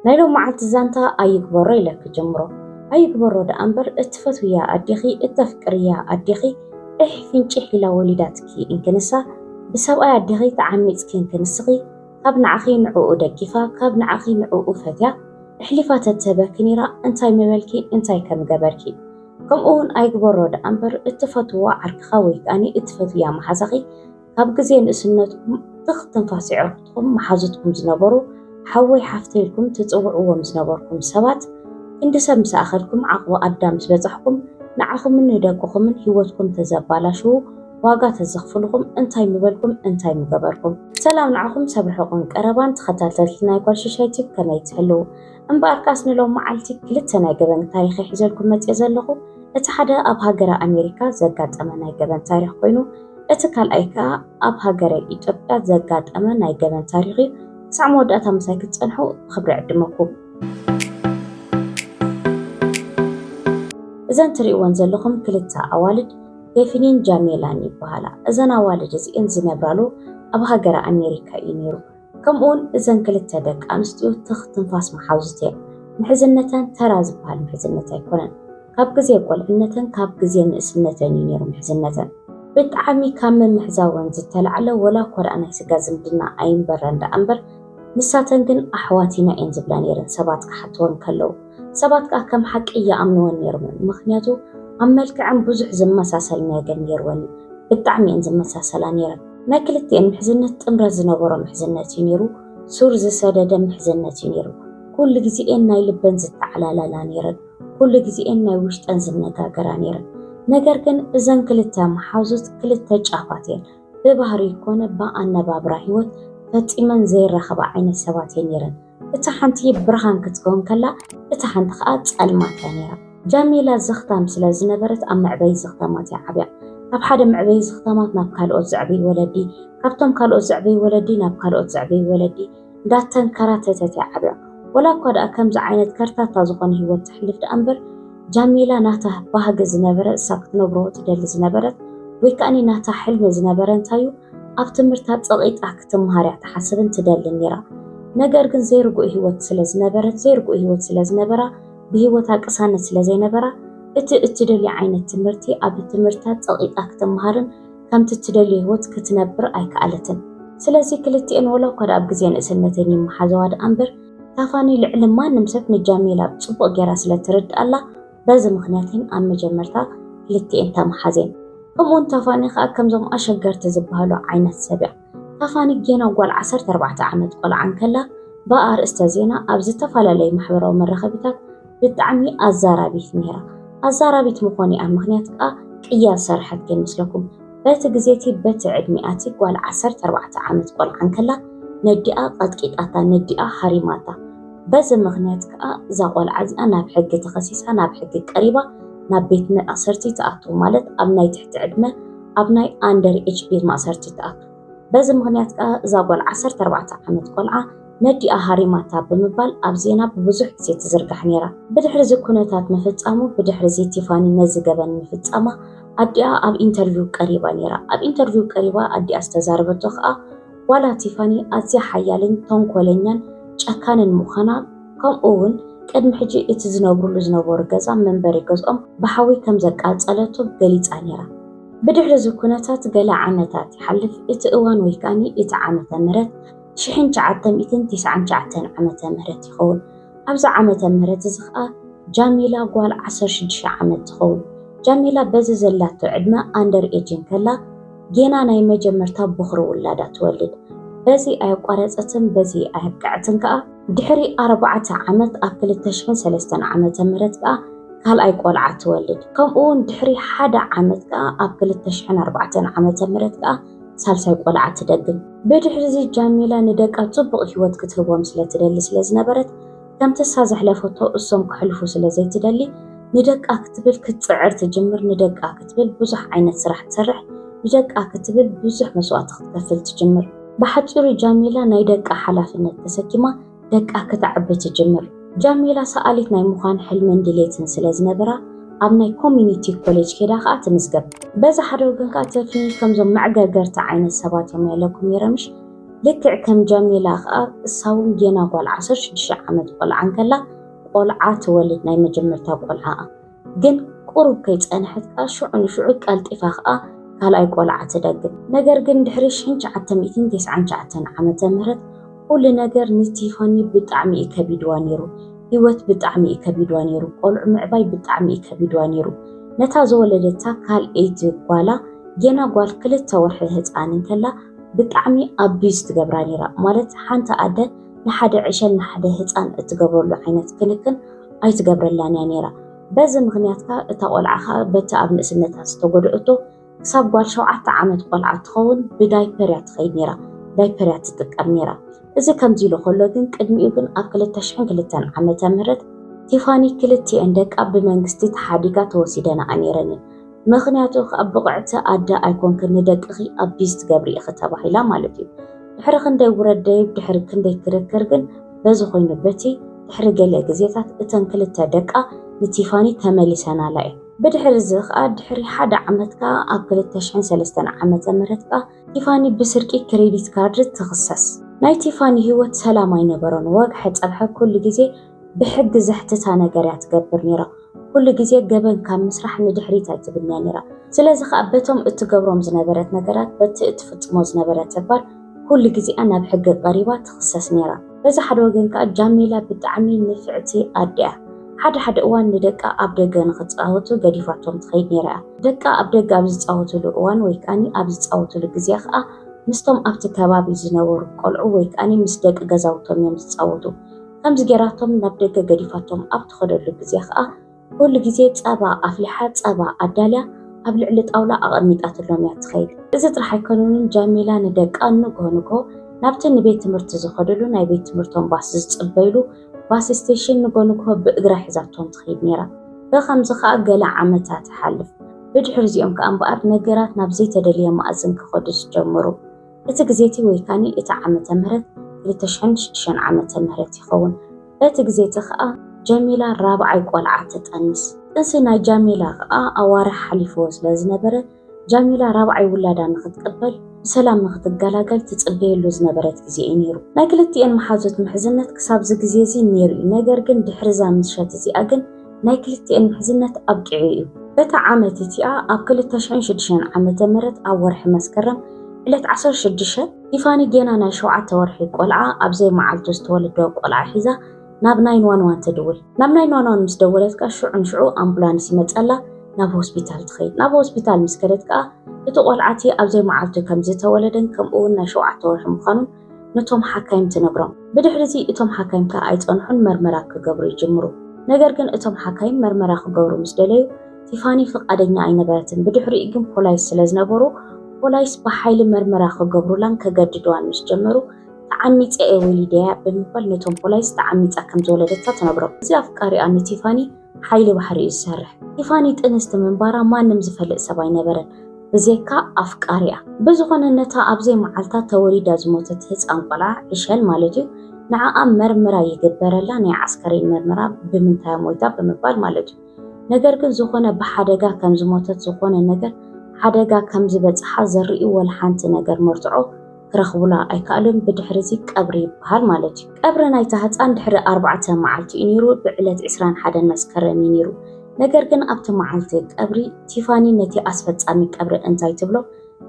ናይ ሎማዓንቲ ዛንታ ኣይግበሮ ኢለኪ ጀምሮ ኣይግበሮ ደኣ እምበር እትፈትውያ ኣዴኺ እተፍቅርያ ኣዴኺ ዒሕ ፍንጪሕ ኢላ ወሊዳትኪ እንክንሳ ብሰብኣይ ኣዴኺ ተዓሚጽኪ እንክንስኺ ካብ ንዓኺ ንዕኡ ደጊፋ ካብ ንዓኺ ንዕኡ ፈትያ እሕሊፋ ተትህበኪ ኔራ እንታይ ምበልኪ እንታይ ከም ገበርኪ ከምኡ ውን ኣይግበሮ ደኣ እምበር እትፈትዎ ዓርክኻ ወይ ከኣኒ እትፈትውያ መሓዛኺ ካብ ግዜ ንእስነትኩም ትኽ ትንፋስ የዕሩኽትኩም መሓዙትኩም ዝነበሩ ሓወይ ሓፍተይ ኢልኩም ትጽውዕዎም ዝነበርኩም ሰባት ክንዲ ሰብ ምስ ኣኸልኩም ዓቕሚ ኣዳም ምስ በጻሕኩም ንዓኹምን ንደቅኹምን ህይወትኩም ተዘባላሽዉ ዋጋ ተዘኽፍልኹም እንታይ ምበልኩም እንታይ ምገበርኩም። ሰላም ንዓኹም ሰብ ርሑቕን ቀረባን ተኸታተልቲ ናይ ጓል ሽሻይ ቲዩብ ከመይ ትህልዉ እምበኣርካስ ንሎም መዓልቲ ክልተ ናይ ገበን ታሪኸ ሒዘልኩም መጽየ ዘለኹ እቲ ሓደ ኣብ ሃገረ ኣሜሪካ ዘጋጠመ ናይ ገበን ታሪኽ ኮይኑ እቲ ካልኣይ ከኣ ኣብ ሃገረ ኢትዮጵያ ዘጋጠመ ናይ ገበን ታሪኽ እዩ ክሳዕ መወዳእታ ምሳይ ክትጸንሑ ብኽብሪ ዕድመኩም እዘን ትርእይወን ዘለኹም ክልተ ኣዋልድ ዴፊኒን ጃሜላን ይበሃላ እዘን ኣዋልድ እዚኤን ዝነብራሉ ኣብ ሃገረ ኣሜሪካ እዩ ነይሩ ከምኡውን እዘን ክልተ ደቂ ኣንስትዮ ትኽ ትንፋስ መሓውዝት እየን። ምሕዝነተን ተራ ዝበሃል ምሕዝነት ኣይኮነን። ካብ ግዜ ቁልዕነተን ካብ ግዜ ንእስነተን እዩ ነይሩ ምሕዝነተን። ብጣዕሚ ካብ ምምሕዛወን ዝተላዕለ ወላ እኳ ደኣ ናይ ስጋ ዝምድና ኣይንበረን ደኣ እምበር ንሳተን ግን ኣሕዋት ኢና እየን ዝብላ ነይረን ሰባት ክሓትወን ከለዉ። ሰባት ከኣ ከም ሓቂ ይኣምንወን ነይሮም ምኽንያቱ ኣብ መልክዐን ብዙሕ ዝመሳሰል ነገር ነይርወን እዩ። ብጣዕሚ እየን ዝመሳሰላ ነይረን። ናይ ክልቲኤን ምሕዝነት ጥምረት ዝነበሮ ምሕዝነት እዩ ነይሩ። ሱር ዝሰደደ ምሕዝነት እዩ ነይሩ። ኩሉ ግዜ'የን ናይ ልበን ዝተዓላላላ ነይረን። ኩሉ ግዜ'የን ናይ ውሽጠን ዝነጋገራ ነይረን። ነገር ግን እዘን ክልተ መሓዙት ክልተ ጫፋት እየን። ብባህሪ ኮነ ብኣነባብራ ህይወት ፈጺመን ዘይራኸባ ዓይነት ሰባት እየን ነይረን። እታ ሓንቲ ብርሃን ክትከውን ከላ እታ ሓንቲ ከኣ ጸልማት እያ ነይራ። ጃሚላ ዘኽታም ስለ ዝነበረት ኣብ መዕበዪ ዘኽታማት እያ ዓብያ። ካብ ሓደ መዕበዪ ዘኽታማት ናብ ካልኦት ዘዕብዩ ወለዲ፣ ካብቶም ካልኦት ዘዕብዩ ወለዲ ናብ ካልኦት ዘዕብዩ ወለዲ እንዳተንከራተተት እያ ዓብያ። ወላ እኳ ደኣ ከምዚ ዓይነት ከርታታ ዝኾነ ህይወት ተሕልፍ ደኣ እምበር፣ ጃሚላ ናታ ባህጊ ዝነበረ እሳ ክትነብሮ ትደሊ ዝነበረት ወይ ከኣኒ ናታ ሕልሚ ዝነበረ እንታይ እዩ ኣብ ትምህርታ ጸቒጣ ክትምሃር እያ ትሓስብን ትደልን ኔራ ነገር ግን ዘይርጉእ ህይወት ስለ ዝነበረት ዘይርጉእ ህይወት ስለ ዝነበራ ብህይወታ ቅሳነት ስለ ዘይነበራ እቲ እትደልዮ ዓይነት ትምህርቲ ኣብ ትምህርታ ጸቒጣ ክትምሃርን ከምቲ እትደልዮ ህይወት ክትነብር ኣይከኣለትን ስለዚ ክልቲኤን ወላ እኳ ደኣ ኣብ ግዜ ንእስነተን ይመሓዘዋ ደኣ እምበር ታፋኒ ልዕሊ ማንም ሰብ ንጃሚላ ጽቡቕ ጌራ ስለ ትርድኣላ በዚ ምኽንያት እየን ኣብ መጀመርታ ክልቲኤን ተማሓዜን። ከምኡውን ታፋኒ ከኣ ከምዞም ኣሸገርቲ ዝበሃሉ ዓይነት ሰብ እያ። ታፋኒ ጌና ጓል ዓሰርተ ኣርባዕተ ዓመት ቆልዓ እንከላ ብኣርእስተ ዜና ኣብ ዝተፈላለየ ማሕበራዊ መራኸቢታት ብጣዕሚ ኣዛራቢት ኔራ ኣዛራቢት ምኮኒኣ ምክንያት ከኣ ቅያ ዝሰረሐት ከይመስለኩም በቲ ግዜ እቲ በቲ ዕድሚኣ እቲ ጓል ዓሰርተ ኣርባዕተ ዓመት ቆልዓ እንከላ ነዲኣ ቀጥቂጣታ ነዲኣ ሃሪማታ በዚ ምክንያት ከኣ እዛ ቆልዓ እዚኣ ናብ ሕጊ ተከሲሳ ናብ ሕጊ ቀሪባ ናብ ቤት መእሰርቲ ትኣቱ ማለት ኣብ ናይ ትሕቲ ዕድመ ኣብ ናይ ኣንደር ኤች ቤት ማእሰርቲ ትኣቱ በዚ ምክንያት ከኣ እዛ ጓል ዓሰርተ ኣርባዕተ ዓመት ቆልዓ ነዲኣ ሃሪማታ ብምባል ኣብ ዜና ብብዙሕ ግዜ ትዝርጋሕ ነይራ። ብድሕሪ እዚ ኩነታት ምፍጻሙ ብድሕሪ እዚ ቲፋኒ ነዚ ገበን ምፍጻማ ኣዲኣ ኣብ ኢንተርቪው ቀሪባ ነይራ። ኣብ ኢንተርቪው ቀሪባ ኣዲኣ ዝተዛረበቶ ከኣ ጓላ ቲፋኒ ኣዝያ ሓያልን ተንኮለኛን ጨካንን ምዃና ከምኡ ውን ቅድሚ ሕጂ እቲ ዝነብሩሉ ዝነበሩ ገዛ መንበሪ ገዝኦም ብሓዊ ከም ዘቃጸለቶ ገሊጻ ነይራ። ብድሕሪ እዚ ኩነታት ገለ ዓመታት ይሓልፍ። እቲ እዋን ወይ ከኣ እቲ ዓመተ ምህረት ሽሕን ትሽዓተ ሚእትን ቴስዓን ትሽዓተን ዓመተ ምህረት ይኸውን። ኣብዚ ዓመተ ምህረት እዚ ከኣ ጃሚላ ጓል ዓሰርተ ሽዱሽተ ዓመት ትኸውን። ጃሚላ በዚ ዘላቶ ዕድመ ኣንደር ኤጅ እንከላ ጌና ናይ መጀመርታ ቦኽሪ ውላዳ ትወልድ። በዚ ኣየቋረጸትን በዚ ኣየብቀዐትን ከኣ። ድሕሪ ኣርባዕተ ዓመት ኣብ ክልተ ሽሕን ሰለስተን ዓመተ ምህረት ከኣ ካልኣይ ቆልዓ ትወልድ። ከምኡ'ውን ድሕሪ ሓደ ዓመት ከኣ ኣብ ክልተ ሽሕን ኣርባዕተን ዓመተ ምህረት ከኣ ሳልሳይ ቆልዓ ትደግም። ብድሕሪ'ዚ ጃሚላ ንደቃ ጽቡቕ ህይወት ክትህቦም ስለ ትደሊ ስለ ዝነበረት፣ ከምቲ እሳ ዘሕለፈቶ እሶም ከሕልፉ ስለ ዘይትደሊ፣ ንደቃ ክትብል ክትጽዕር ትጅምር፣ ንደቃ ክትብል ብዙሕ ዓይነት ስራሕ ትሰርሕ፣ ንደቃ ክትብል ብዙሕ መስዋእቲ ክትከፍል ትጅምር። ብሓጺሩ ጃሚላ ናይ ደቃ ሓላፍነት ተሰኪማ፣ ደቃ ክተዕቢ ትጅምር። ጃሜላ ሰኣሊት ናይ ምዃን ሕልምን ድሌትን ስለ ዝነበራ ኣብ ናይ ኮሚኒቲ ኮሌጅ ኬዳ ከኣ ትምዝገብ። በዚ ሓደ ወገን ከኣ ተፊ ከምዞም መዕገርገርቲ ዓይነት ሰባት እዮም ያለኩም ነይረምሽ። ልክዕ ከም ጃሜላ ከኣ እሳውን ጌና ጓል ዓሰርተ ሽዱሽተ ዓመት ቆልዓ እንከላ ቆልዓ ትወልድ ናይ መጀመርታ ቆልዓኣ። ግን ቁሩብ ከይጸንሐት ከኣ ሽዑ ንሽዑ ቀልጢፋ ከኣ ካልኣይ ቆልዓ ትደግም። ነገር ግን ድሕሪ ሽሕን ትሽዓተ ሚእትን ተስዓን ትሽዓተን ዓመተ ምህረት ኩሉ ነገር ንቲፋኒ ብጣዕሚ እዩ ከቢድዋ ኔሩ። ህይወት ብጣዕሚ እዩ ከቢድዋ ኔሩ። ቆልዑ ምዕባይ ብጣዕሚ እዩ ከቢድዋ ኔሩ። ነታ ዝወለደታ ካልኣይቲ ጓላ ጌና ጓል ክልተ ወርሒ ህጻን እንከላ ብጣዕሚ ኣቢዩዝ ትገብራ ኔራ። ማለት ሓንቲ ኣደ ንሓደ ዕሸል ንሓደ ህጻን እትገብረሉ ዓይነት ክንክን ኣይትገብረላን እያ ነይራ። በዚ ምኽንያት ከኣ እታ ቆልዓ ከኣ በቲ ኣብ ንእስነታ ዝተጎድኦቶ ክሳብ ጓል ሸውዓተ ዓመት ቆልዓ እትኸውን ብዳይፐር እያ ትኸይድ ነይራ፣ ዳይፐር እያ ትጥቀም ነይራ። እዚ ከምዚ ኢሉ ከሎ ግን ቅድሚኡ ግን ኣብ ክልተ ሽሕን ክልተን ዓመተ ምህረት ቲፋኒ ክልቲኤን ደቃ ብመንግስቲ ተሓዲጋ ተወሲደናኣ ነይረን እየን። ምኽንያቱ ከኣ ብቕዕቲ ኣደ ኣይኮንክን ንደቅኺ ኣቢዝ ትገብሪ ኢኺ ተባሂላ ማለት እዩ። ድሕሪ ክንደይ ውረድ ደይብ ድሕሪ ክንደይ ክርክር ግን በዚ ኮይኑ በቲ ድሕሪ ገለ ግዜታት እተን ክልተ ደቃ ንቲፋኒ ተመሊሰናላ እየን። ብድሕሪ እዚ ከኣ ድሕሪ ሓደ ዓመት ከኣ ኣብ ክልተ ሽሕን ሰለስተን ዓመተ ምህረት ከኣ ቲፋኒ ብስርቂ ክሬዲት ካርድ ትኽሰስ። ናይ ቲፋኒ ህይወት ሰላም ኣይነበሮን፣ ወግሐ ጸብሐ ኩሉ ግዜ ብሕጊ ዘሕትታ ነገር እያ ትገብር ነይራ። ኩሉ ግዜ ገበን ካብ ምስራሕ ንድሕሪት ኣይትብልንያ ነይራ። ስለዚ ከኣ በቶም እትገብሮም ዝነበረት ነገራት በቲ እትፍጽሞ ዝነበረት ተግባር ኩሉ ግዜኣ ናብ ሕጊ ቀሪባ ትኽሰስ ነይራ። በዚ ሓደ ወገን ከኣ ጃሚላ ብጣዕሚ ንፍዕቲ ኣደ እያ። ሓደ ሓደ እዋን ንደቃ ኣብ ደገ ንኽጻወቱ ገዲፋቶም ትኸይድ ነይራ እያ። ደቃ ኣብ ደገ ኣብ ዝጻወትሉ እዋን ወይ ከኣ ኣብ ዝጻወትሉ ግዜ ከኣ ምስቶም ኣብቲ ከባቢ ዝነበሩ ቆልዑ ወይ ከኣ ምስ ደቂ ገዛውቶም እዮም ዝጻወቱ። ከምዚ ጌራቶም ናብ ደገ ገዲፋቶም ኣብ ትኸደሉ ግዜ ኸኣ ኩሉ ግዜ ጸባ ኣፍሊሓ ጸባ ኣዳልያ ኣብ ልዕሊ ጣውላ ኣቐሚጣትሎም እያ ትኸይድ። እዚ ጥራሕ ኣይከኑንን ጃሚላ ንደቃ ንግሆ ንግሆ ናብቲ ንቤት ትምህርቲ ዝኸድሉ ናይ ቤት ትምህርቶም ባስ ዝጽበይሉ ባስ ስቴሽን ንግሆ ንግሆ ብእግራ ሒዛቶም ትኸይድ ኔራ። ብኸምዚ ኸኣ ገለ ዓመታት ይሓልፍ። ብድሕሪ'ዚኦም ከኣ እምበኣር ነገራት ናብ ዘይተደልየ መኣዝን ክኸዱ ዝጀምሩ። እቲ ግዜቲ ወይ ካኒ እቲ ዓመተ ምህረት ክልተ ሽሕን ሽዱሽተን ዓመተ ምህረት ይኸውን። በቲ ግዜቲ ከኣ ጀሚላ ራብዓይ ቆልዓ ተጠንስ። ጥንሲ ናይ ጃሚላ ከኣ ኣዋርሕ ሓሊፍዎ ስለ ዝነበረ፣ ጃሚላ ራብዓይ ውላዳ ንኽትቅበል፣ ብሰላም ንኽትገላገል ትጽበየሉ ዝነበረት ግዜ እዩ ነይሩ። ናይ ክልቲኤን መሓዙት ምሕዝነት ክሳብዚ ግዜዚ ነይሩ'ዩ። ነገር ግን ድሕሪዛ ምሸት እዚኣ ግን፣ ናይ ክልቲኤን ምሕዝነት ኣብቂዑ እዩ። በታ ዓመት እቲኣ ኣብ ክልተ ሽሕን ሽዱሽተን ዓመተ ምህረት ኣብ ወርሒ መስከረም ዕለት ዓሰርተ ሽዱሽተ ቲፋኒ ጌና ናይ ሸውዓተ ወርሒ ቆልዓ ኣብ ዘይመዓልቱ ዝተወለደ ቆልዓ ሒዛ ናብ ናይን ዋን ዋን ትድውል። ናብ ናይን ዋን ዋን ምስ ደወለት ከኣ ሽዑ ንሽዑ ኣምቡላንስ ይመጸላ ናብ ሆስፒታል ትኸይድ። ናብ ሆስፒታል ምስ ከደት ከኣ እቲ ቆልዓ እቲ ኣብ ዘይመዓልቱ ከምዝተወለደን ከምኡ'ውን ናይ ሸውዓተ ወርሒ ምዃኑን ነቶም ሓካይም ትነግሮም። ብድሕሪ እዚ እቶም ሓካይም ከኣ ኣይጸንሑን መርመራ ክገብሩ ይጅምሩ። ነገር ግን እቶም ሓካይም መርመራ ክገብሩ ምስ ደለዩ ቲፋኒ ፍቃደኛ ኣይነበረትን ብድሕሪኡ ግን ፖላይስ ስለ ዝነበሩ ፖላይስ ብሓይሊ መርመራ ክገብሩላን ከገድድዋን ምስ ጀመሩ ተዓሚጸ እየ ወሊደያ ብምባል ነቶም ፖላይስ ተዓሚጻ ከም ዝወለደታ ትነግሮም። እዚ ኣፍቃሪኣ ንቲፋኒ ሓይሊ ባሕሪ እዩ ዝሰርሕ። ቲፋኒ ጥንስቲ ምንባራ ማንም ዝፈልጥ ሰብ ኣይነበረን ብዜካ ኣፍቃሪኣ። ብዝኾነ ነታ ኣብዘይ መዓልታ ተወሊዳ ዝሞተት ህጻን ቆልዓ ዕሸል ማለት እዩ ንዓኣ መርምራ ይግበረላ ናይ ዓስከሬን መርምራ ብምንታያ ሞይታ ብምባል ማለት እዩ ነገር ግን ዝኾነ ብሓደጋ ከምዝሞተት ዝኾነ ነገር ሓደጋ ከምዝበጽሓ ዘርእዩ ወላሓንቲ ነገር መርትዖ ክረኽቡላ ኣይከኣሉን፣ ብድሕሪዚ ቀብሪ ይበሃል ማለት እዩ። ቀብሪ ናይታ ህጻን ድሕሪ ኣርባዕተ መዓልቲ እዩ ነይሩ፣ ብዕለት ዕስራን ሓደን መስከረም እዩ ነይሩ። ነገር ግን ኣብቲ መዓልቲ ቀብሪ ቲፋኒ ነቲ ኣስፈጻሚ ቀብሪ እንታይ ትብሎ፣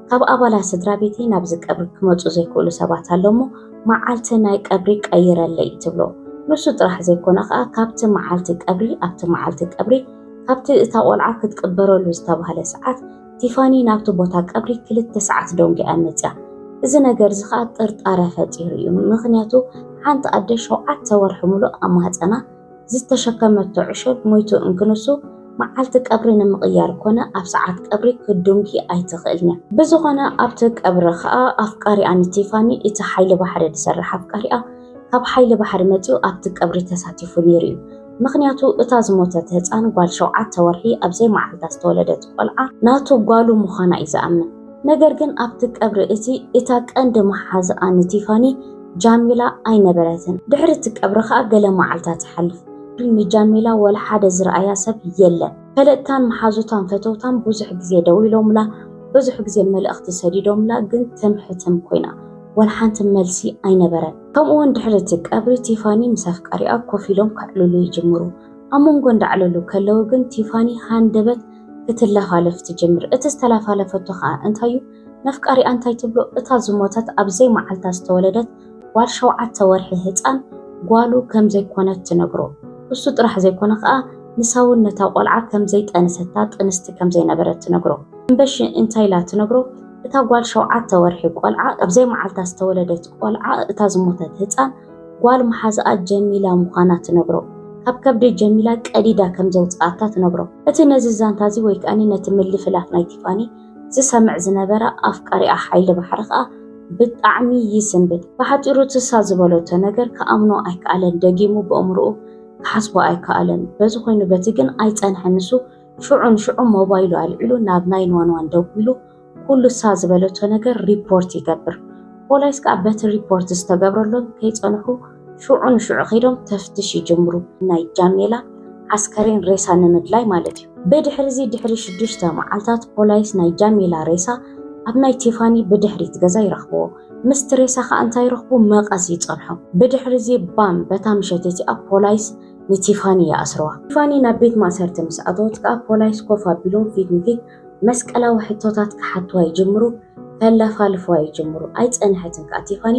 ካብ ኣባላት ስድራቤተይ ናብዚ ቀብሪ ክመጹ ዘይክእሉ ሰባት ኣለዉ እሞ መዓልቲ ናይ ቀብሪ ቀይረለይ ትብሎ። ንሱ ጥራሕ ዘይኮነ ከኣ ካብቲ መዓልቲ ቀብሪ ኣብቲ መዓልቲ ቀብሪ ካብቲ እታ ቆልዓ ክትቅበረሉ ዝተባህለ ሰዓት ቲፋኒ ናብቲ ቦታ ቀብሪ ክልተ ሰዓት ደንጒያ መጺኣ። እዚ ነገር'ዚ ከኣ ጥርጣረ ፈጢሩ እዩ፣ ምኽንያቱ ሓንቲ ኣደ ሸውዓተ ወርሒ ምሉእ ኣብ ማህጸና ዝተሸከመቶ ዕሸል ሞይቱ እንክንሱ፣ መዓልቲ ቀብሪ ንምቕያር ኮነ ኣብ ሰዓት ቀብሪ ክትድንጒ ኣይትኽእልን'ያ። ብዝኾነ ኣብቲ ቀብሪ ከኣ ኣፍቃሪኣ ንቲፋኒ፣ እቲ ሓይሊ ባሕሪ ዝሰርሕ ኣፍቃሪኣ፣ ካብ ሓይሊ ባሕሪ መጺኡ ኣብቲ ቀብሪ ተሳቲፉ ነይሩ እዩ። ምኽንያቱ እታ ዝሞተት ህጻን ጓል ሸውዓተ ወርሒ ኣብ ዘይመዓልታ ዝተወለደት ቆልዓ ናቱ ጓሉ ምዃና እዩ ዝኣምን። ነገር ግን ኣብቲ ቀብሪ እቲ እታ ቀንዲ መሓዝኣ ንቲፋኒ፣ ጃሚላ፣ ኣይነበረትን። ድሕሪ እቲ ቀብሪ ከኣ ገለ መዓልታት ይሓልፍ። ንጃሚላ ዋላ ሓደ ዝረኣያ ሰብ የለን። ፈለጥታን መሓዙታን ፈተውታን ብዙሕ ግዜ ደዊሎምላ፣ ብዙሕ ግዜ መልእኽቲ ሰዲዶምላ፣ ግን ትም ሕትም ኮይና። ወልሓንቲ መልሲ ኣይነበረን። ከምኡ'ውን ድሕሪ እቲ ቀብሪ ቲፋኒ ምስ ኣፍቃሪኣ ኮፍ ኢሎም ከዕልሉ ይጅምሩ። ኣብ መንጎ እንዳዕለሉ ከለው ግን ቲፋኒ ሃንደበት ክትለፋለፍ ትጅምር። እቲ ዝተላፋለፈቶ ከኣ እንታይ'ዩ? ነፍቃሪኣ እንታይ ትብሎ እታ ዝሞተት ኣብ ዘይ መዓልታ ዝተወለደት ጓል ሸውዓተ ወርሒ ህጻን ጓሉ ከም ዘይኮነት ትነግሮ እሱ ጥራሕ ዘይኮነ ከኣ ንሳውን ነታ ቆልዓ ከም ዘይ ጠነሰታ ጥንስቲ ከም ዘይነበረት ትነግሮ እምበሺ እንታይ ኢላ ትነግሮ እታ ጓል ሸውዓተ ወርሒ ቆልዓ ኣብ ዘይ መዓልታ ዝተወለደት ቆልዓ እታ ዝሞተት ህጻን ጓል መሓዝኣ ጀሚላ ምዃና ትነግሮ ካብ ከብዲ ጀሚላ ቀዲዳ ከም ዘውጽኣታ ትነግሮ እቲ ነዚ ዛንታ እዚ ወይ ከኣ ነቲ ምልፍላፍ ናይ ቲፋኒ ዝሰምዕ ዝነበረ ኣፍቃሪኣ ሓይሊ ባሕሪ ከኣ ብጣዕሚ ይስንብድ። ብሓጺሩ ትሳ ዝበለቶ ነገር ክኣምኖ ኣይከኣለን፣ ደጊሙ በእምርኡ ክሓስቦ ኣይከኣለን። በዚ ኮይኑ በቲ ግን ኣይጸንሐን ንሱ ሽዑ ንሽዑ ሞባይሉ ኣልዒሉ ናብ ናይን ዋን ዋን ደዊሉ ኩሉ እሳ ዝበለቶ ነገር ሪፖርት ይገብር። ፖላይስ ከኣ በቲ ሪፖርት ዝተገብረሎም ከይጸንሑ ሽዑ ንሽዑ ከይዶም ተፍትሽ ይጅምሩ ናይ ጃሜላ ዓስከሬን ሬሳ ንምድላይ ማለት እዩ። ብድሕሪዚ ድሕሪ ሽዱሽተ መዓልታት ፖላይስ ናይ ጃሜላ ሬሳ ኣብ ናይ ቲፋኒ ብድሕሪት ገዛ ይረኽብዎ። ምስቲ ሬሳ ከኣ እንታይ ይረኽቡ መቐስ ይጸንሖም። ብድሕሪዚ ባም በታ ምሸት እቲኣ ፖላይስ ንቲፋኒ ይኣስርዋ። ቲፋኒ ናብ ቤት ማእሰርቲ ምስ ኣተወት ከኣ ፖላይስ ኮፍ ኣቢሎም ፊት ንፊት መስቀላዊ ሕቶታት ክሓትዋ ይጅምሩ፣ ከለፋልፍዋ ይጅምሩ። ኣይጸንሐትን ከኣ ቲፋኒ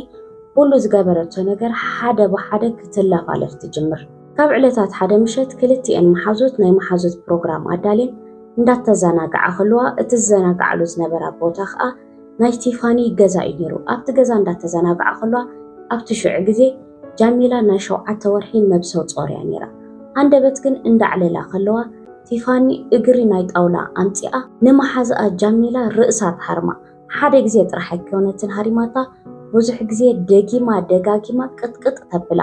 ኩሉ ዝገበረቶ ነገር ሓደ ብሓደ ክትለፋለፍ ትጅምር። ካብ ዕለታት ሓደ ምሸት ክልቲኤን መሓዙት ናይ መሓዙት ፕሮግራም ኣዳልየን እንዳተዘናግዓ ከለዋ እቲ ዝዘናግዓሉ ዝነበራ ቦታ ከኣ ናይ ቲፋኒ ገዛ እዩ ነይሩ። ኣብቲ ገዛ እንዳተዘናግዓ ከለዋ ኣብቲ ሽዑ ግዜ ጃሚላ ናይ ሸውዓተ ወርሒ ነብሰውጾር እያ ነይራ። ሃንደበት ግን እንዳዕለላ ከለዋ ቲፋኒ እግሪ ናይ ጣውላ ኣምጺኣ ንመሓዝኣ ጃሚላ ርእሳ ትሃርማ። ሓደ ግዜ ጥራሕ ኣይኮነትን ሃሪማታ፣ ብዙሕ ግዜ ደጊማ ደጋጊማ ቅጥቅጥ ተብላ።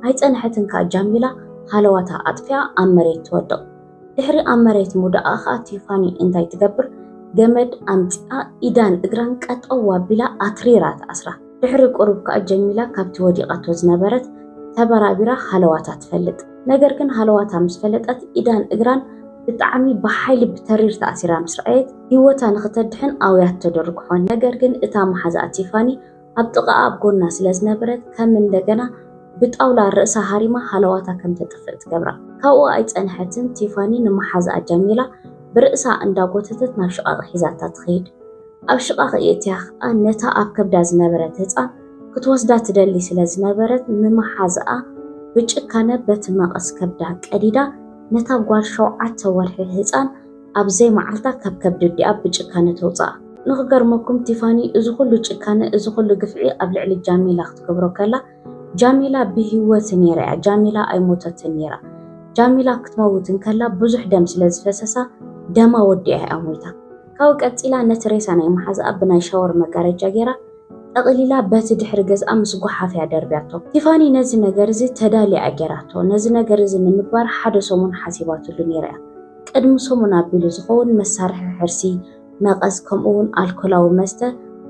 ኣይጸንሐትን ከኣ ጃሚላ ሃለዋታ ኣጥፊኣ ኣብ መሬት ትወድቕ። ድሕሪ ኣብ መሬት ምውዳቓ ከኣ ቲፋኒ እንታይ ትገብር፣ ገመድ ኣምጺኣ ኢዳን እግራን ቀጠው ኣቢላ ኣትሪራ ትኣስራ። ድሕሪ ቁሩብ ከኣ ጀሚላ ካብቲ ወዲቓቶ ዝነበረት ተበራቢራ ሃለዋታ ትፈልጥ። ነገር ግን ሃለዋታ ምስ ፈለጠት ኢዳን እግራን ብጣዕሚ ብሓይሊ ብተሪር ተኣሲራ ምስ ረኣየት ሂወታ ንኽተድሕን ኣውያቶ ድርግሖ። ነገር ግን እታ መሓዛኣ ቲፋኒ ኣብ ጥቓኣ ኣብ ጎና ስለ ዝነበረት ከም እንደገና ብጣውላ ርእሳ ሃሪማ ሃለዋታ ከም ተጥፍእ ትገብራ። ካብኡ ኣይጸንሐትን ቲፋኒ ንመሓዛኣ ጀሚላ ብርእሳ እንዳጎተተት ናብ ሽቓቕ ሒዛታ ትኸይድ። ኣብ ሽቓቕ የእትያ ኸኣ ነታ ኣብ ከብዳ ዝነበረት ህጻን ክትወስዳ ትደሊ ስለ ዝነበረት ንምሓዝኣ ብጭካነ በቲ መቐስ ከብዳ ቀዲዳ ነታ ጓል ሸውዓተ ወርሒ ህጻን ኣብ ዘይመዓልታ ካብ ከብዲ ኣዲኣ ብጭካነ ተውጽኣ። ንኽገርመኩም ቲፋኒ እዚ ኹሉ ጭካነ እዚ ኹሉ ግፍዒ ኣብ ልዕሊ ጃሚላ ክትገብሮ ከላ ጃሚላ ብሂወት ኔራ እያ ጃሚላ ኣይሞተትን ኔራ ጃሚላ ክትመውት እንከላ ብዙሕ ደም ስለ ዝፈሰሳ ደማ ወዲኣ እያ ሞይታ። ካብኡ ቀጺላ ነቲ ሬሳ ናይ መሓዝኣ ብናይ ሻወር መጋረጃ ገይራ ጠቕሊላ በቲ ድሕሪ ገዝኣ ምስ ጓሓፍያ ደርብያቶ። ቲፋኒ ነዚ ነገር እዚ ተዳልያ እያ ገይራቶ። ነዚ ነገር እዚ ንምግባር ሓደ ሰሙን ሓሲባትሉ ነይራ እያ። ቅድሚ ሰሙን ኣቢሉ ዝኸውን መሳርሒ ሕርሲ፣ መቐስ፣ ከምኡ'ውን ኣልኮላዊ መስተ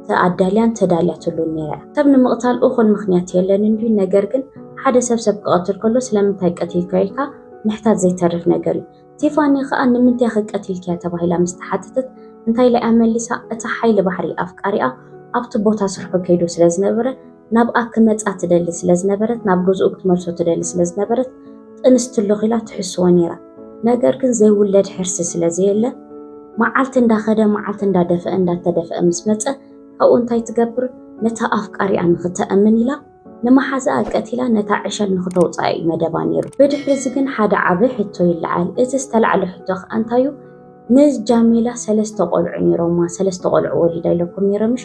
ተኣዳልያን ተዳልያትሉን ነይራ እያ። ሰብ ንምቕታል እኹል ምኽንያት የለንን ድዩ? ነገር ግን ሓደ ሰብ ሰብ ክቐትል ከሎ ስለምንታይ ቀቲልካዮ ኢልካ ምሕታት ዘይተርፍ ነገር እዩ። ቲፋኒ ኸኣ ንምንታይኸ ቀቲልክያ ተባሂላ ምስ ተሓተተት እንታይ ኢላ'ያ መሊሳ እቲ ሓይሊ ባሕሪ ኣፍቃሪኣ ኣብቲ ቦታ ስርሑ ከይዱ ስለ ዝነበረ ናብኣ ክመጻ ትደሊ ስለ ዝነበረት ናብ ገዝኡ ክትመልሶ ትደሊ ስለ ዝነበረት ጥንስቲ ኣለኹ ኢላ ትሕስዎ ኔራ ነገር ግን ዘይውለድ ሕርሲ ስለ ዘየለ መዓልቲ እንዳኸደ መዓልቲ እንዳደፈአ እንዳተደፈኣ ምስ መጸ ካብኡ እንታይ ትገብር ነታ ኣፍቃሪኣ ንኽተእምን ኢላ ንመሓዛኣ ቀቲላ ነታ ዕሸል ንኽተውጽኣ እዩ መደባ ነይሩ። ብድሕሪ'ዚ ግን ሓደ ዓቢ ሕቶ ይለዓል። እቲ ዝተላዕለ ሕቶ ከኣ እንታይ'ዩ? ንጃሚላ ሰለስተ ቈልዑ ነይሮማ፣ ሰለስተ ቈልዑ ወሊዳ ኢለኩም ነይረ ምሽ?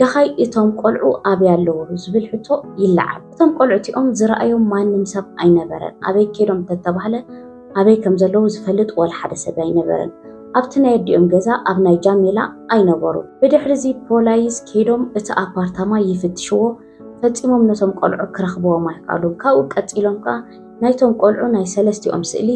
ደሃይ እቶም ቈልዑ ኣበይ ኣለዉ? ዝብል ሕቶ ይለዓል። እቶም ቈልዑ'ቲኦም ዝረኣዮም ማንም ሰብ ኣይነበረን። ኣበይ ከይዶም እንተተባህለ፣ ኣበይ ከም ዘለዉ ዝፈልጥ ዋላ ሓደ ሰብ ኣይነበረን። ኣብቲ ናይ ኣዲኦም ገዛ ኣብ ናይ ጃሜላ ኣይነበሩን። ብድሕሪዚ ፖላይስ ከይዶም እቲ ኣፓርታማ ይፍትሽዎ፣ ፈጺሞም ነቶም ቆልዑ ክረኽብዎም ኣይከኣሉን። ካብኡ ቀጺሎም ከኣ ናይቶም ቆልዑ ናይ ሰለስቲኦም ስእሊ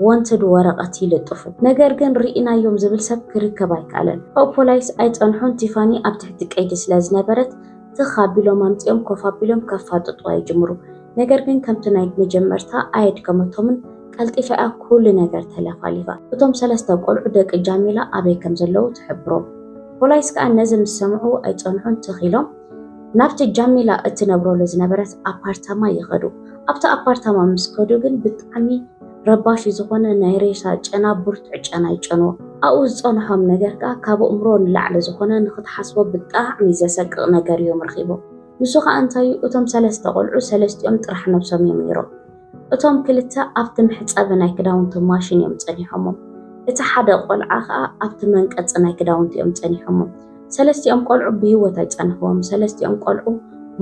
ወንትድ ወረቐት ይልጥፉ። ነገር ግን ርኢናዮም ዝብል ሰብ ክርከብ ኣይከኣለን። ኣብኡ ፖላይስ ኣይጸንሑን፣ ቲፋኒ ኣብ ትሕቲ ቀይዲ ስለ ዝነበረት ትኽ ኣቢሎም ኣምጺኦም ኮፍ ኣቢሎም ከፋጥጡዋ ይጅምሩ። ነገር ግን ከምቲ ናይ መጀመርታ ኣየድከመቶምን፣ ቀልጢፋ'ያ ኩሉ ነገር ተለፋሊፋ። እቶም ሰለስተ ቆልዑ ደቂ ጃሚላ ኣበይ ከም ዘለዉ ትሕብሮም። ፖላይስ ከኣ ነዚ ምስ ሰምዑ ኣይጸንሑን ትኽ ኢሎም ናብቲ ጃሚላ እትነብረሉ ዝነበረት ኣፓርታማ ይኸዱ። ኣብቲ ኣፓርታማ ምስ ከዱ ግን ብጣዕሚ ረባሺ ዝኾነ ናይ ሬሳ ጨና ብርቱዕ ጨና ይጨንዎ። ኣብኡ ዝጸንሖም ነገር ከኣ ካብ ኣእምሮ ንላዕሊ ዝኾነ ንኽትሓስቦ ብጣዕሚ ዘሰቅቕ ነገር'ዮም ረኺቦም። ንሱ ኸኣ እንታይ እዩ እቶም ሰለስተ ቆልዑ ሰለስቲኦም ጥራሕ ነብሶም እዮም ነይሮም እቶም ክልተ ኣብቲ መሕጸቢ ናይ ክዳውንቲ ማሽን እዮም ጸኒሖሞም እቲ ሓደ ቆልዓ ኸኣ ኣብቲ መንቀጺ ናይ ክዳውንቲ እዮም ጸኒሖሞም ሰለስቲኦም ቆልዑ ብህይወት ኣይጸንሕዎም ሰለስቲኦም ቆልዑ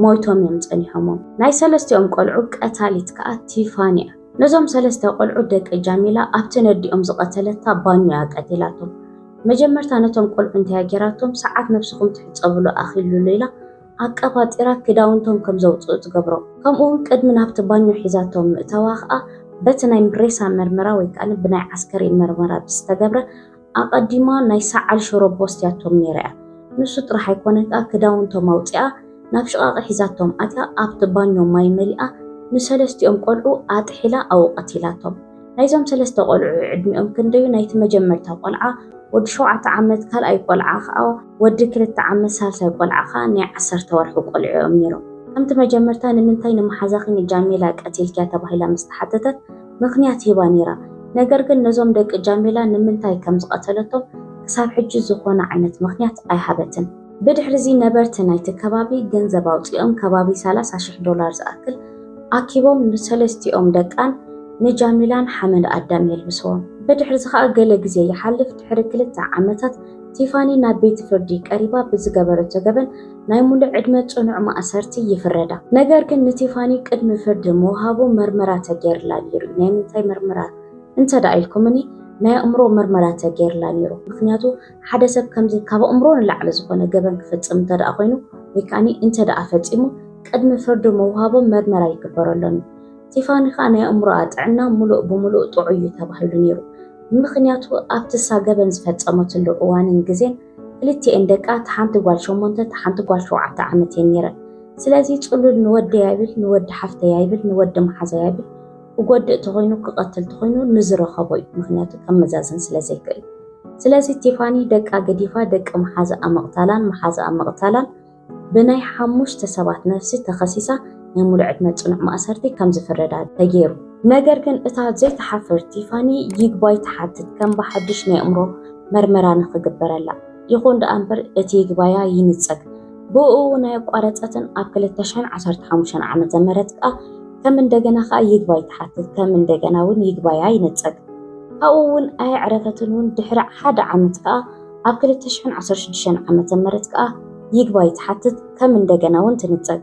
ሞይቶም እዮም ጸኒሖሞም ናይ ሰለስቲኦም ቆልዑ ቀታሊት ከኣ ቲፋኒ እያ። ነዞም ሰለስተ ቆልዑት ደቂ ጃሚላ ኣብቲ ነዲኦም ዝቐተለታ ባኞ እያ ቀቲላቶም። መጀመርታ ነቶም ቆልዑ እንታያ ጌራቶም ሰዓት ነብስኹም ትሕጸብሉ ኣኺሉሉ ኢላ ኣቀባጢራ ክዳውንቶም ከም ዘውጽኡ ትገብሮም። ከምኡውን ቅድሚ ናብቲ ባኞ ሒዛቶም ምእታዋ ከኣ በቲ ናይ ሬሳ መርመራ ወይ ከኣ ብናይ ዓስከሬን መርመራ ብዝተገብረ ኣቐዲማ ናይ ሰዓል ሸሮቦ ኣስትያቶም ነይራ'ያ። ንሱ ጥራሕ ኣይኮነን ከኣ ክዳውንቶም ኣውጺኣ ናብ ሽቓቕ ሒዛቶም ኣትያ ኣብቲ ባኞ ማይ መሊኣ ንሰለስቲኦም ቆልዑ ኣጥሒላ ኣብኡ ቀቲላቶም። ናይዞም ሰለስተ ቆልዑ ዕድሚኦም ክንደዩ ናይቲ መጀመርታ ቆልዓ ወዲ ሸውዓተ ዓመት ካልኣይ ቆልዓ ከኣ ወዲ ክልተ ዓመት ሳልሳይ ቆልዓ ከኣ ናይ ዓሰርተ ወርሒ ቆልዑ'ዮም ነይሮም። ከምቲ መጀመርታ ንምንታይ ንመሓዛኺ ንጃሚላ ቀቲልክያ ተባሂላ ምስ ተሓተተት፣ ምኽንያት ሂባ ነይራ። ነገር ግን ነዞም ደቂ ጃሜላ ንምንታይ ከም ዝቐተለቶም ክሳብ ሕጂ ዝኾነ ዓይነት ምኽንያት ኣይሃበትን። ብድሕሪ'ዚ ነበርቲ ናይቲ ከባቢ ገንዘብ ኣውጺኦም ከባቢ ሰላሳ ሽሕ ዶላር ዝኣክል ኣኪቦም ንሰለስቲኦም ደቃን ንጃሚላን ሓመድ ኣዳም የልብስዎም። ብድሕሪ'ዚ ከኣ ገለ ግዜ ይሓልፍ ድሕሪ ክልተ ዓመታት ቲፋኒ ናብ ቤትፍርዲ ቀሪባ ብዝገበረቶ ገበን ናይ ሙሉእ ዕድመ ጽኑዕ ማእሰርቲ ይፍረዳ። ነገር ግን ንቲፋኒ ቅድሚ ፍርዲ ምውሃቡ መርመራ ተጌርላ ኔሩ'ዩ። ናይ ምንታይ መርመራ እንተ ደኣ ኢልኩምኒ ናይ ኣእምሮ መርመራ ተጌርላ ኔሩ። ምኽንያቱ ሓደ ሰብ ከምዚ ካብ ኣእምሮ ንላዕሊ ዝኾነ ገበን ክፍጽም እንተ ደኣ ኮይኑ ወይ ከኣኒ እንተ ደኣ ፈጺሙ ቅድሚ ፍርዲ ምውሃቡ መርመራ ይግበረሎም'ዩ። ቲፋኒ ከኣ ናይ ኣእምሮኣ ጥዕና ሙሉእ ብሙሉእ ጥዑይ'ዩ ተባሂሉ ኔሩ። ምኽንያቱ ኣብቲ እሳ ገበን ዝፈጸመትሉ እዋንን ግዜን ክልቲኤን ደቃ እታ ሓንቲ ጓል ሸሞንተ እታ ሓንቲ ጓል ሸውዓተ ዓመት እየን ነይረን። ስለዚ ጽሉል ንወደይ ኣይብል ንወዲ ሓፍተይ ኣይብል ንወዲ መሓዛይ ኣይብል ክጎድእ ተኾይኑ ክቀትል ተኾይኑ ንዝረኸቦ እዩ ምኽንያቱ ከመዛዝን ስለ ዘይክእል። ስለዚ ቲፋኒ ደቃ ገዲፋ ደቂ መሓዝኣ ምቅታላን መሓዝኣ ምቅታላን ብናይ ሓሙሽተ ሰባት ነፍሲ ተኸሲሳ ናይ ሙሉእ ዕድመ ፅኑዕ ማእሰርቲ ከም ዝፍረዳ ተገይሩ። ነገር ግን እታ ዘይትሓፍር ቲፋኒ ይግባይ ትሓትት ከም ብሓዱሽ ናይ ኣእምሮ መርመራ ንኽግበረላ። ይኹን ደኣ እምበር እቲ ይግባያ ይንፀግ። ብኡኡውን ኣየቋረፀትን ኣብ ክልተ ሽሕን ዓሰርተ ሓሙሽተን ዓመተ ምህረት ከዓ ከም እንደገና ከዓ ይግባይ ትሓትት ከም እንደገና እውን ይግባያ ይንፀግ። ካብኡ እውን ኣየዕረፈትን እውን ድሕሪ ሓደ ዓመት ከዓ ኣብ ክልተ ሽሕን ዓሰርተ ሽዱሽተን ዓመተ ምህረት ከኣ ይግባይ ትሓትት ከም እንደገና እውን ትንጸግ።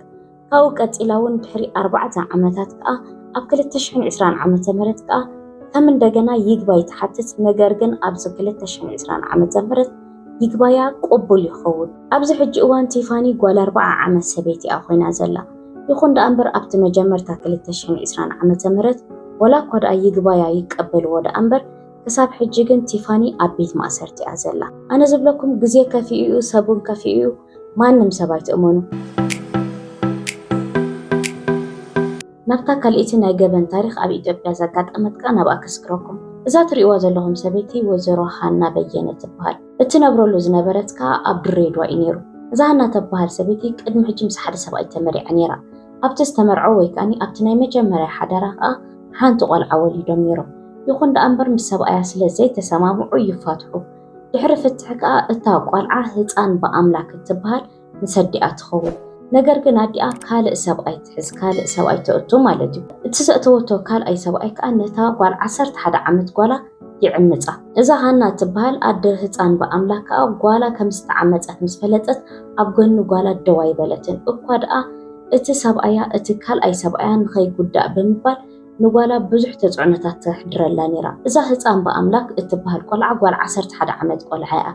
ካብኡ ቀጺላ እውን ድሕሪ ኣርባዕተ ዓመታት ከኣ ኣብ ክልተ ሽሕን ዕስራን ዓመተ ምህረት ከኣ ከም እንደገና ይግባይ ትሓትት ነገር ግን ኣብዚ ክልተ ሽሕን ዕስራን ዓመተ ምህረት ይግባያ ቅቡል ይኸውን። ኣብዚ ሕጂ እዋን ቲፋኒ ጓል ኣርብዓ ዓመት ሰበይቲ እያ ኮይና ዘላ። ይኹን ደኣ እምበር ኣብቲ መጀመርታ ክልተ ሽሕን ዕስራን ዓመተ ምህረት ወላ እኳ ደኣ ይግባያ ይቀበልዎ ደኣ እምበር ክሳብ ሕጂ ግን ቲፋኒ ኣብ ቤት ማእሰርቲ እያ ዘላ። ኣነ ዝብለኩም ግዜ ከፊኡ እዩ ሰብ ውን ከፊኡ እዩ ማንም ሰብ ኣይትእመኑ። ናብታ ካልኤቲ ናይ ገበን ታሪኽ ኣብ ኢትዮጵያ ዘጋጠመት ከኣ ናብኣ ከስግረኩም። እዛ ትርእይዋ ዘለኹም ሰበይቲ ወይዘሮ ሃና በየነ ትብሃል። እትነብረሉ ዝነበረት ከኣ ኣብ ድሬድዋ እዩ ኔሩ። እዛ ሃና ተብሃል ሰበይቲ ቅድሚ ሕጂ ምስ ሓደ ሰብኣይ ተመሪዓ ኔራ። ኣብቲ ዝተመርዐው ወይ ከኣ ኣብቲ ናይ መጀመርያ ሓዳራ ከኣ ሓንቲ ቆልዓ ወሊዶም ነይሮም። ይኹን ደኣ እምበር ምስ ሰብኣያ ስለ ዘይተሰማምዑ ይፋትሑ። ድሕሪ ፍትሒ ከኣ እታ ቆልዓ ህጻን ብኣምላክ እትበሃል ምስ ኣዲኣ ትኸውን። ነገር ግን ኣዲኣ ካልእ ሰብኣይ ትሕዝ፣ ካልእ ሰብኣይ ተእቱ ማለት እዩ። እቲ ዘእተወቶ ካልኣይ ሰብኣይ ከኣ ነታ ጓል ዓሰርተ ሓደ ዓመት ጓላ ይዕምጻ። እዛ ሃና እትበሃል ኣደ ህጻን ብኣምላክ ከኣ ጓላ ከም ዝተዓመጸት ምስ ፈለጠት፣ ኣብ ጎኒ ጓላ ደው ኣይበለትን። እኳ ደኣ እቲ ሰብኣያ እቲ ካልኣይ ሰብኣያ ንኸይጉዳእ ብምባል ንጓላ ብዙሕ ተጽዕኖታት ተሕድረላ ነይራ። እዛ ህጻን ብኣምላክ እትበሃል ቆልዓ ጓል ዓሰርተ ሓደ ዓመት ቆልዓ'ያ።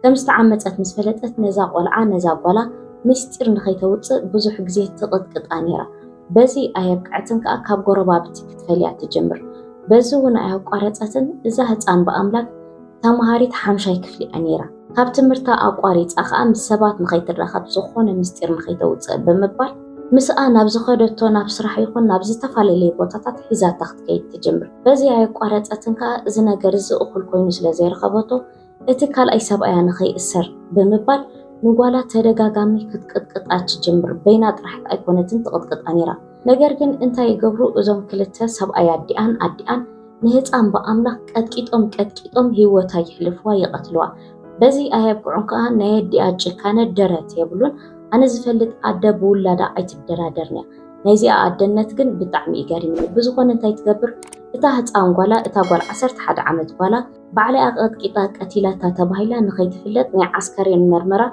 ከም ዝተዓመጸት ምስ ፈለጠት ነዛ ቆልዓ ነዛ ጓላ ምስጢር ንኸይተውጽእ ብዙሕ ግዜ ትቕጥቅጣ ነይራ። በዚ ኣየብቀዐትን ከኣ ካብ ጎረባብቲ ክትፈልያ ትጅምር። በዚ'ውን ኣየቋረጸትን እዛ ህጻን ብኣምላክ። ተምሃሪት ሓምሻይ ክፍሊ እያ ነይራ። ካብ ትምህርታ ኣቋሪፃ ከዓ ምስ ሰባት ንኸይትራኸብ ዝኾነ ምስጢር ንኸይተውፅእ ብምባል ምስኣ ናብ ዝኸደቶ ናብ ስራሕ ይኹን ናብ ዝተፈላለየ ቦታታት ሒዛታ ክትከይድ ትጅምር። በዚ ኣየቋረፀትን ከዓ እዚ ነገር እዚ እኹል ኮይኑ ስለ ዘይረኸበቶ እቲ ካልኣይ ሰብኣያ ንኸይእሰር ብምባል ንጓላ ተደጋጋሚ ክትቅጥቅጣ ትጅምር። በይና ጥራሕ ኣይኮነትን ትቕጥቅጣ ነይራ። ነገር ግን እንታይ ይገብሩ እዞም ክልተ ሰብኣይ ኣዲኣን ኣዲኣን ንህፃን ብኣምላኽ ቀጥቂጦም ቀጥቂጦም ህይወታ ይሕልፍዋ ይቐትልዋ በዚ ኣየብቅዑን ከዓ ናይ ኣዲኣ ጭካነ ደረት የብሉን ኣነ ዝፈልጥ ኣደ ብውላዳ ኣይትደራደርን እያ ናይዚኣ ኣደነት ግን ብጣዕሚ እዩ ገሪምኒ ብዝኾነ እንታይ ትገብር እታ ህፃን ጓላ እታ ጓል ዓሰርተ ሓደ ዓመት ጓላ ባዕላ ኣቐጥቂጣ ቀቲላታ ተባሂላ ንኸይትፍለጥ ናይ ዓስከሬን መርመራ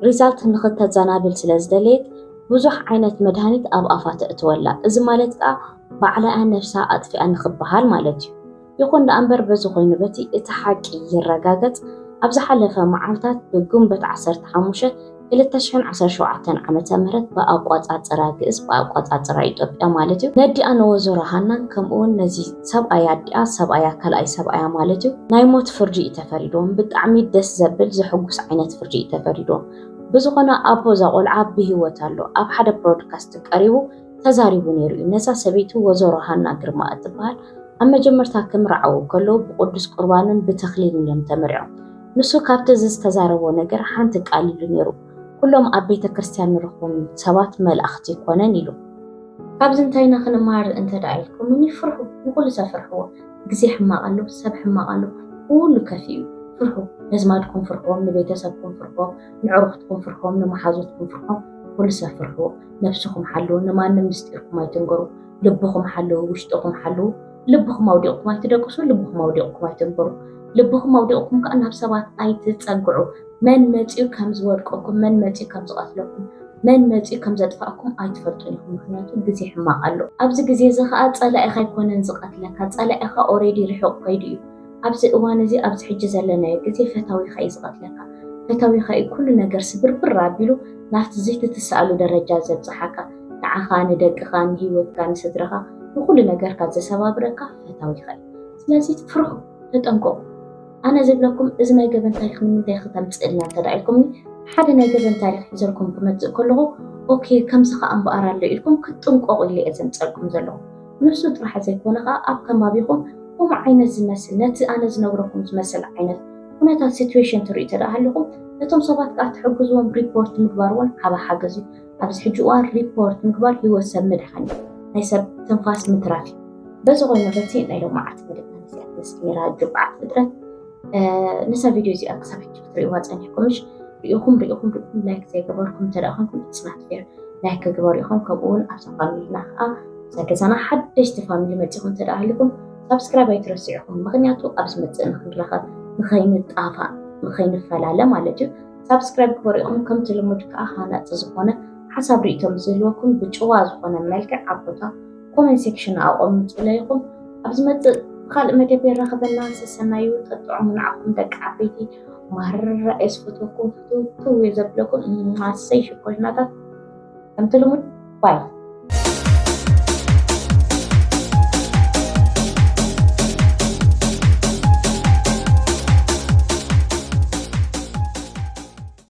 ሪዛልት ንኽተዘናብል ስለ ዝደለየት ብዙሕ ዓይነት መድሃኒት ኣብ ኣፋ ተእትወላ እዚ ማለት ከዓ ባዕላ'ያ ነብሳ ኣጥፊኣ ንኽበሃል ማለት'ዩ። ይኹን ደኣ'ምበር በዚ ኮይኑ በቲ እቲ ሓቂ ይረጋገጽ ኣብ ዝሓለፈ መዓልታት ብግንቦት ዓሰርተ ሓሙሽተ ክልተ ሽሕን ዓሰርተ ሸውዓተን ዓመተ ምህረት ብኣቆጻጽራ ግእዝ ብኣቆጻጽራ ኢትዮጵያ ማለት'ዩ ነዲኣ ንወዘሮ ሃናን ከምኡ'ውን ነዚ ሰብኣይ ኣዲኣ ሰብኣያ ካልኣይ ሰብኣያ ማለት'ዩ ናይ ሞት ፍርዲ'ዩ ተፈሪድዎም። ብጣዕሚ ደስ ዘብል ዘሕጉስ ዓይነት ፍርዲ'ዩ ተፈሪድዎም። ብዝኾነ ኣቦ እዛ ቆልዓ ብሂወት ኣሎ ኣብ ሓደ ፕሮድካስት ቀሪቡ ተዛሪቡ ነይሩ እዩ። ነዛ ሰበይቲ ወዘሮ ሃና ግርማ እትበሃል ኣብ መጀመርታ ክምርዓዉ ከለዉ ብቅዱስ ቁርባንን ብተክሊልን እዮም ተመሪዖም። ንሱ ካብቲ ዝዝተዛረቦ ነገር ሓንቲ ቃል ኢሉ ነይሩ፣ ኩሎም ኣብ ቤተ ክርስቲያን ንረኽቦም ሰባት መላእኽቲ ኣይኮነን ኢሉ። ካብዚ እንታይ ኢና ክንመሃር እንተ ደኣ ኢልኩምኒ፣ ፍርሑ፣ ንኹሉ ሰብ ፍርሕዎ። ግዜ ሕማቕ ኣሎ፣ ሰብ ሕማቕ ኣሎ፣ ኩሉ ከፊኡ እዩ። ፍርሑ፣ ነዝማድኩም ፍርሕዎም፣ ንቤተሰብኩም ፍርሕዎም፣ ንዕሩኽትኩም ፍርሕዎም፣ ንመሓዙትኩም ፍርሕዎም፣ ንኹሉ ሰብ ፍርሕዎ። ነብስኹም ሓልዉ ንማንም ምስጢርኩም ኣይትንገሩ ልብኹም ሓልዉ ውሽጥኹም ሓልዉ ልብኹም ኣውዲቕኩም ኣይትደቅሱ ልብኹም ኣውዲቕኩም ኣይትንበሩ ልብኹም ኣውዲቕኩም ከዓ ናብ ሰባት ኣይትፀግዑ መን መፂኡ ከም ዝወድቀኩም መን መፂኡ ከም ዝቐትለኩም መን መፂኡ ከም ዘጥፋእኩም ኣይትፈልጡን ኢኹም ምክንያቱ ግዜ ሕማቕ ኣሎ ኣብዚ ግዜ እዚ ከዓ ፀላኢኻ ኣይኮነን ዝቐትለካ ፀላኢኻ ኦሬዲ ርሑቕ ከይዱ እዩ ኣብዚ እዋን እዚ ኣብዚ ሕጂ ዘለናዮ ግዜ ፈታዊኻ እዩ ዝቐትለካ፣ ፈታዊኻ እዩ ኩሉ ነገር ስብርብር ኣቢሉ ናብቲ ዘይትትስኣሉ ደረጃ ዘብጽሓካ፣ ንዓኻ፣ ንደቅኻ፣ ንህይወትካ፣ ንስድራኻ፣ ንኹሉ ነገርካ ዘሰባብረካ ፈታዊኻ እዩ። ስለዚ ፍርሑ፣ ተጠንቀቑ። ኣነ ዝብለኩም እዚ ናይ ገበን ታሪኽ ንምንታይ ክተምጽእልና እንተድኣ ኢልኩምኒ፣ ሓደ ናይ ገበን ታሪኽ ሒዘልኩም ክመጽእ ከለኹ ኦኬ ከምዚ ከኣ እምበኣር ኣሎ ኢልኩም ክትጥንቀቑ ኢለ እየ ዘምጸልኩም ዘለኹ። ንሱ ጥራሕ ዘይኮነ ከኣ ኣብ ከባቢኹም ከምኡ ዓይነት ዝመስል ነቲ ኣነ ዝነግረኩም ዝመስል ዓይነት ኩነታት ሲትዌሽን ትርእዩ ተደኣ ሃሊኹም ነቶም ሰባት ከኣ ትሕግዝዎም ሪፖርት ምግባር ውን ዓቢ ሓገዝ እዩ ኣብዚ ሕጂ እዋን ሪፖርት ምግባር ሂወት ሰብ ምድሓን እዩ ናይ ሰብ ትንፋስ ምትራፍ እዩ በዚ ኮይኖ በቲ ናይ ሎማዓንቲ መደብና ነዚኣ ክንስኪ ኔራ ጁባዓት ፍጥረት ነዛ ቪድዮ እዚኣ ክሳብ ሕጂ ክትርእይዋ ጸኒሕኩምሽ ርኢኹም ርኢኹም ርኢኹም ላይክ ዘይገበርኩም እንተ ኮንኩም ጽናት ፌር ላይክ ክግበሩ ኢኹም ከምኡ እውን ኣብዛ ፋሚልና ከዓ እዛ ገዛና ሓደሽቲ ፋሚሊ መፂኹም እንተ ሃሊኩም ሳብስክራይብ ኣይትረስዕኹም ምክንያቱ ኣብ ዝመፅእ ንክንረኸብ ንኸይንጣፋእ ንኸይንፈላለ ማለት እዩ ሳብስክራይብ ክበሩ ኢኹም ከምቲ ልሙድ ከዓ ሃናፂ ዝኾነ ሓሳብ ርእቶም ዝህልወኩም ብጭዋ ዝኾነ መልክዕ ኣብ ቦታ ኮሜንት ሴክሽን ኣቆምጹለ ይኹም ኣብ ዝመጽእ ብካልእ መደብ የራኽበና ሰሰናዩ ጠጥዑሙ ንዓኹም ደቂ ዓበይቲ ማራ ኤስ ፍቶኩም ፍትውትው እየ ዘብለኩም ማሰይ ሽኮሽናታት ከምቲ ልሙድ ባይ